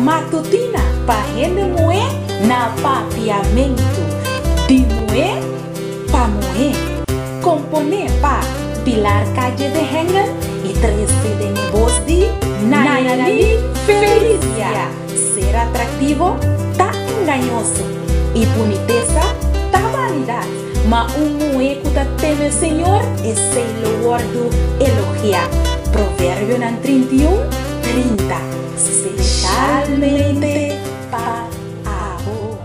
Matutina pa hende muhé na Papiamentu di muhé pa muhé Komponé pa Pilar Calle de Hengel y tres di den e bos di Nayalí Felicia Ser atraktivo ta engañoso y bunitesa ta vanidad Ma un muhé ku ta teme Señor esei lo wòrdu elogiá Proverbionan trinta i un, trinta. Specialmente pa abo.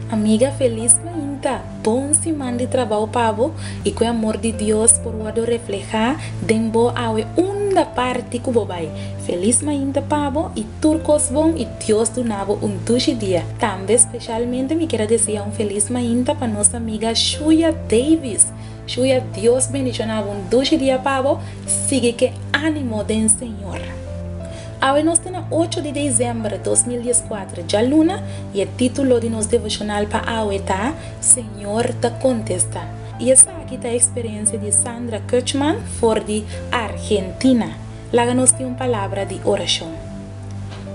Amiga felis ku yinka, bon siman di trabou pa bo i ku e amor di Dios por wòrdu reflehá den bo awe unda parti ku bo bai. Felis mainta pa bo i tur kos bon i Dios duna bo un dushi dia. Tambe specialmente mi quier a desea un felis mainta pa nos amiga Shuya Davis Shuya Dios bendiciona bo un dushi dia pa bo sigui ke animo den Señor. Awe nos ta na ocho di dezember dos mil dies kuater djaluna y e titulo di nos devocional pa awe ta Señor ta contesta y esaki ta experiencia di Sandra Kirchmann for di Argentina. Laga nos tin un palabra di oracion.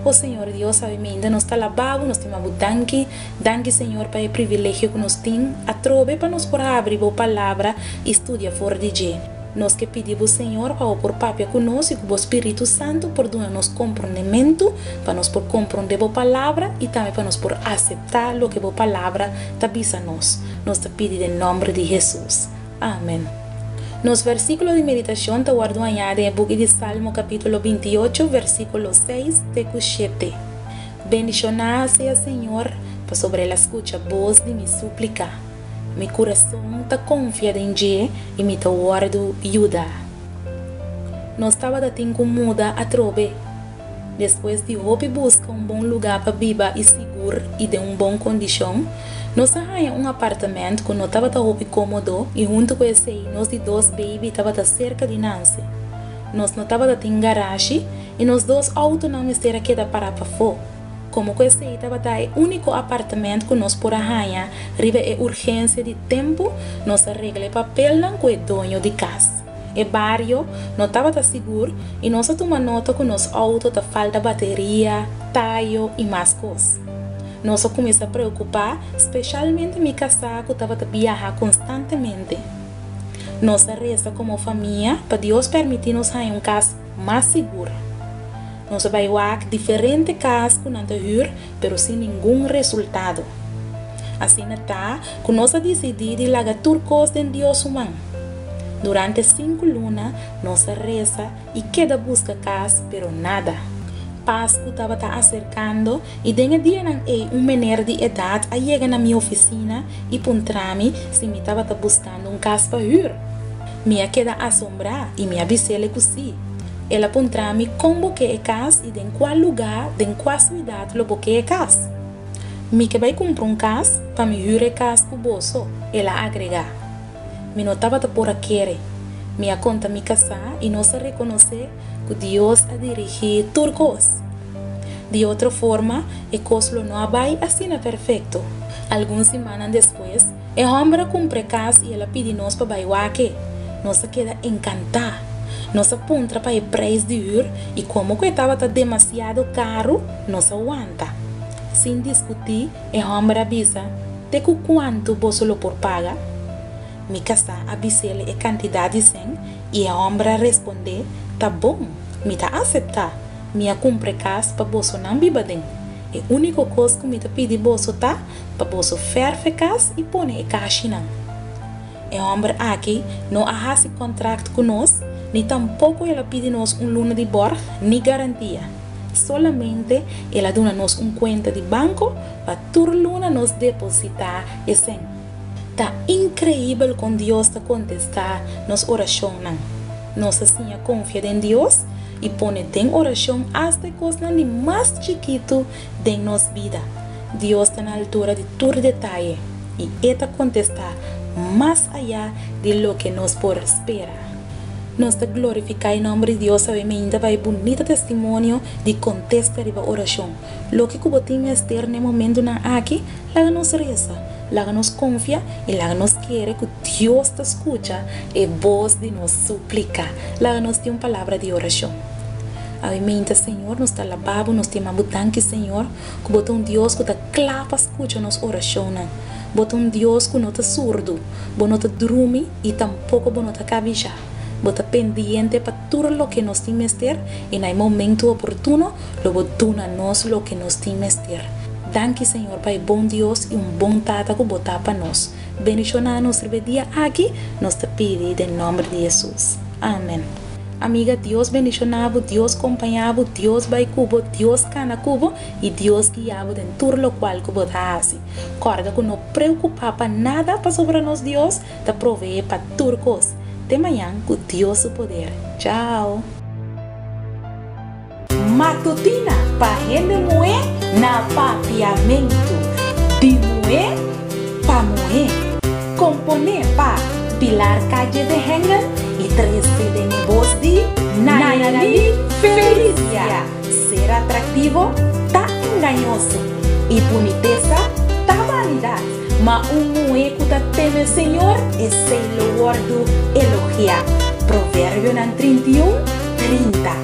O Señor Dios, awe meinda nos ta labá Bo, nos tin m'a Bo danki. Danki, Señor, pa e privilegio ku nos tin atrobe pa nos por habri Bo Palabra i studia for di dje. Nos ke pidi Bo, Señor, pa Bo por papia ku nos i ku Bo Spiritu Santu por duna nos komprondementu pa nos por komprondé Bo Palabra i tambe pa nos por aseptá loke Bo Palabra ta bisa nos. Nos ta pidi den nòmber di Hesus. Amen. Nos versíkulo di meditashon ta wòrdu hañáde e buki di Salmo kapítulo binti ocho, versíkulo seis te ku shete, Bendishoná sea Señor, pasobra el a skucha bos di mi súplika. Mi kurason ta konfia den dje i mi ta wòrdu yudá. Nos tabata tin ku muda atrobe. Despues di hopi buska un bon lugá pa biba i sigur i den un bon kondishon, nos a haña un apartamènt ku no tabata hopi kómodo i huntu ku esei nos di dos beibi tabata serka di nanse. Nos no tabata tin garashi i nos dos outonan mester a keda pará pafó. Komo ku esei tabata e úniko apartamènt ku nos por a haña riba e urgensia di tempu, nos a regla e papelnan ku e doño di kas. E bario no tabata sigur i nos a tuma nota ku nos outo ta falta bateria, tayo i mas kos. Nos a kuminsá preokupá, speshalmente mi kasá ku tabata biaha konstantemente. Nos a resa komo famia pa Dios permití nos haña un kas mas sigur. Nos a bai wak diferente kas ku nan ta hür, pero sin ningun resultado. Asina ta, Ku nos a disidí di laga tur kos den Dios su man. Durante sinku luna nos a resa i keda buska kas, pero nada. Pasku tabata aserkando i den e dianan ei un mener di edat a yega na mi ofisina i puntrami si mi tabata buskando un kas pa hür. Mi a keda asombrá i mi a bisele ku sí. El a puntrami kon bo ke e kas i den kua lugá, den kua siudat lo bo ke e kas. Mi ke bai kumpra un kas pa mi hür e kas ku boso, el a agregá. Mi no tabata por a kere. Mi a konta mi kasá i nos a rekonosé ku Dios a dirigí tur kos. Di otro forma, e kos lo no a bai asina perfekto. Algun simannan despues, E hòmber a kumpr'é kas i el a pidi nos pa bai wak e. Nos a keda enkantá. Nos a puntra pa e preis di hür i komo ku e tabata demasiado karu, nos a wanta. Sin diskutí, e hòmber a bisa, Te ku kuantu boso lo por paga? Mi kasá a bis'el e kantidat di sen i e hòmber a respondé, Ta bon, mi ta aseptá. Mi a kumpre kas pa bosonan biba den. E úniko kos ku mi ta pidi boso ta, pa boso ferfe kas i pone e kashinan. E hòmber aki no a hasi kontrakt ku nos ni tampoko el a pidi nos un luna di bòrg ni garantia. Solamente el a duna nos un kuenta di banko pa tur luna nos depositá e sen. Ta inkreibel kon Dios ta kontestá nos orashonnan! Nos a siña konfia den Dios i pone den orashon asta e kosnan di mas chikitu Den nos bida, Dios ta na altura di tur detaye i e ta kontestá mas ayá di loke nos por spera. Nos ta glorifiká e nòmber di Dios awe mainta pa e bunita testimonio di kontesta riba orashon. Loke ku bo tin mester n'e momentunan aki? Laga nos resa, laga nos konfia i laga nos kere ku Dios ta skucha e bos di nos súplika. Laga nos tin un palabra di orashon. Awe minta, Señor, nos ta alabá Bo, nos ta yamá Bo danki, Señor, ku Bo ta un Dios ku ta kla pa skucha nos orashonnan. Bo ta un Dios ku no ta surdu, Bo no ta drumi i tampoko Bo no ta kabishá. Bo ta pendiente pa tur loke nos tin mester, i na e momentu oportuno lo Bo duna nos loke nos tin mester. Danki, Señor, pa e bon Dios i un bon Tata ku Bo ta pa nos. Bendishonnan nos riba e dia aki nos ta pidi den nòmber di Hesus. Amen. Amiga Dios bendishonabu Dios kompañabu Dios bai kubo Dios kana kubo i Dios guiabu den tur lokual ku bo ta hasi kòrda ku no preokupá pa nada pasobra nos Dios ta proveé pa tur kos te mañan ku Dios su poder chao. Matutina pa hende muhé na Papiamentu di muhé pa muhé Komponé pa Pilar Calle de Hengel y tres cd'N voz di Nayalí Felicia Ser atraktivo ta engañoso y bunitesa ta vanidad Ma un muhé ku ta teme Señor esei lo wòrdu elogiá Proverbionan trinta i un, trinta.